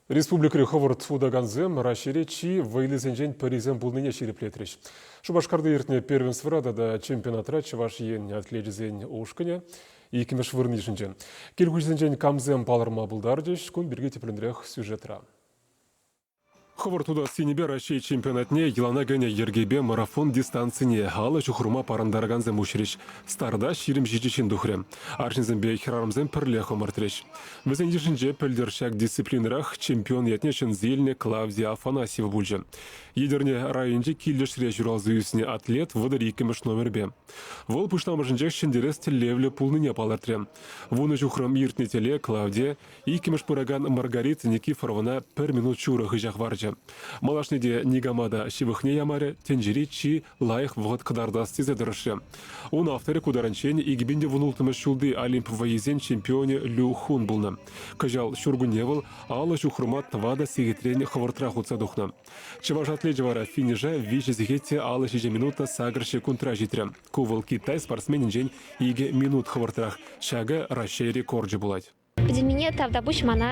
Республикӑри хӑвӑрт сутакансем Раҫҫейре чи вӑйлисенчен пӗрисем пулнине ҫирӗплетрӗҫ. Шупашкарта иртнӗ первенствӑра тата чемпионатра Чӑваш Ен атлечӗсен ушкӑнӗ иккӗмӗш вырӑн йышӑнчӗ. Кил хуҫисенчен камсем палӑрма пултарчӗҫ? Кун пирки тӗплӗнрех сюжетра. Хӑвӑрт утас енӗпе Раҫҫей чемпионатне йӑлана кӗнӗ йӗркепе марафон дистанцине алӑ ҫухӑрма парӑнтаракансем уҫрӗҫ. Старта ҫирӗм ҫичӗ ҫын тухрӗ. Арҫынсемпе хӗрарӑмсем пӗрлех ӑмӑртрӗҫ. Вӗсен йышӗнче пӗлтӗр ҫак дисциплинӑрах чемпион ятне ҫӗнсе илнӗ Клавдия Афанасьева пулчӗ. Етӗрне районӗнчи Килӗшре ҫуралса ӳснӗ атлет вӑтӑр иккӗмӗш номерпе. Вӑл пуҫламӑшӗнчех ҫӗнтерес тӗллевлӗ пулнине палӑртрӗ. Вунӑ ҫухрӑм иртнӗ тӗле Клавдия иккӗмӗш пыракан Маргарита Никифорована пӗр минут ҫурӑ хыҫа хӑварчӗ. Малашне те никама та ҫывӑхне ямарӗ, тӗнчери чи лайӑх вӑхӑт кӑтартас тесе тӑрӑшрӗ. Ун авторӗ ку таранччен ултмӗш ҫулти Олимп вӑййисен чемпионӗ Лю Хун пулнӑ. Кӑҫал ҫуркунне вӑл алӑ ҫухрӑма тӑватӑ сехетрен хӑвӑртрах утса тухнӑ. Чӑваш атлечӗ вара финиша виҫӗ сехете алӑ ҫичӗ минута сакӑр секундра ҫитрӗ. Ку вӑл Китай спортсменӗнчен икӗ минут хӑвӑртрах. Ҫакӑ Раҫҫей рекорчӗ пулать. Пӗтӗмпене тавтапуҫ мана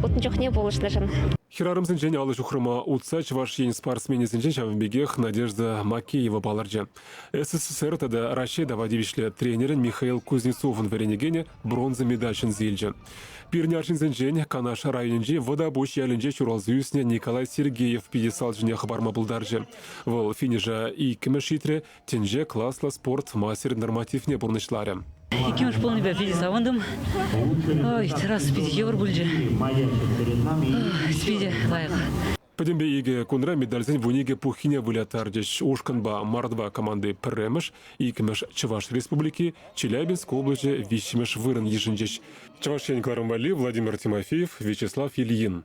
утнӑ чухне пулӑшнӑшӑн. Хӗрарӑмсенчен алӑ ҫухрӑма утса Чӑваш Ен спортсменӗсенчен ҫавӑн пекех Надежда Макеева палӑрчӗ. СССР тата Раҫҫей тава тивӗҫлӗ тренерӗн Михаил Кузнецовӑн вӗренекенӗ бронза медаль ҫӗнсе илчӗ. Пирӗн арҫынсенчен Канаш районӗнчи Вӑтапуҫ ялӗнче ҫуралса ӳснӗ Николай Сергеев пьедестал ҫине хӑпарма пултарчӗ. Вӑл финиша иккӗмӗш ҫитрӗ, Тӗнче класлӑ спорт мастер нормативне пурнӑҫларӗ. Иккӗмӗш пулнипе питӗ савӑнтӑм. Ой, терраса питӗ йывӑр пулчӗ. Питӗ лайӑх. Пӗтӗмпе икӗ кунра медальсен вун икӗ пуххине выляттарчӗҫ. Ушкӑнпа мордва команди пӗрремӗш, иккӗмӗш Чӑваш Республики, Челябинск облаҫӗ виҫҫӗмӗш вырӑн йышӑнчӗҫ. Чӑваш Ен кӑрӑм валли Владимир Тимофеев, Вячеслав Ильин.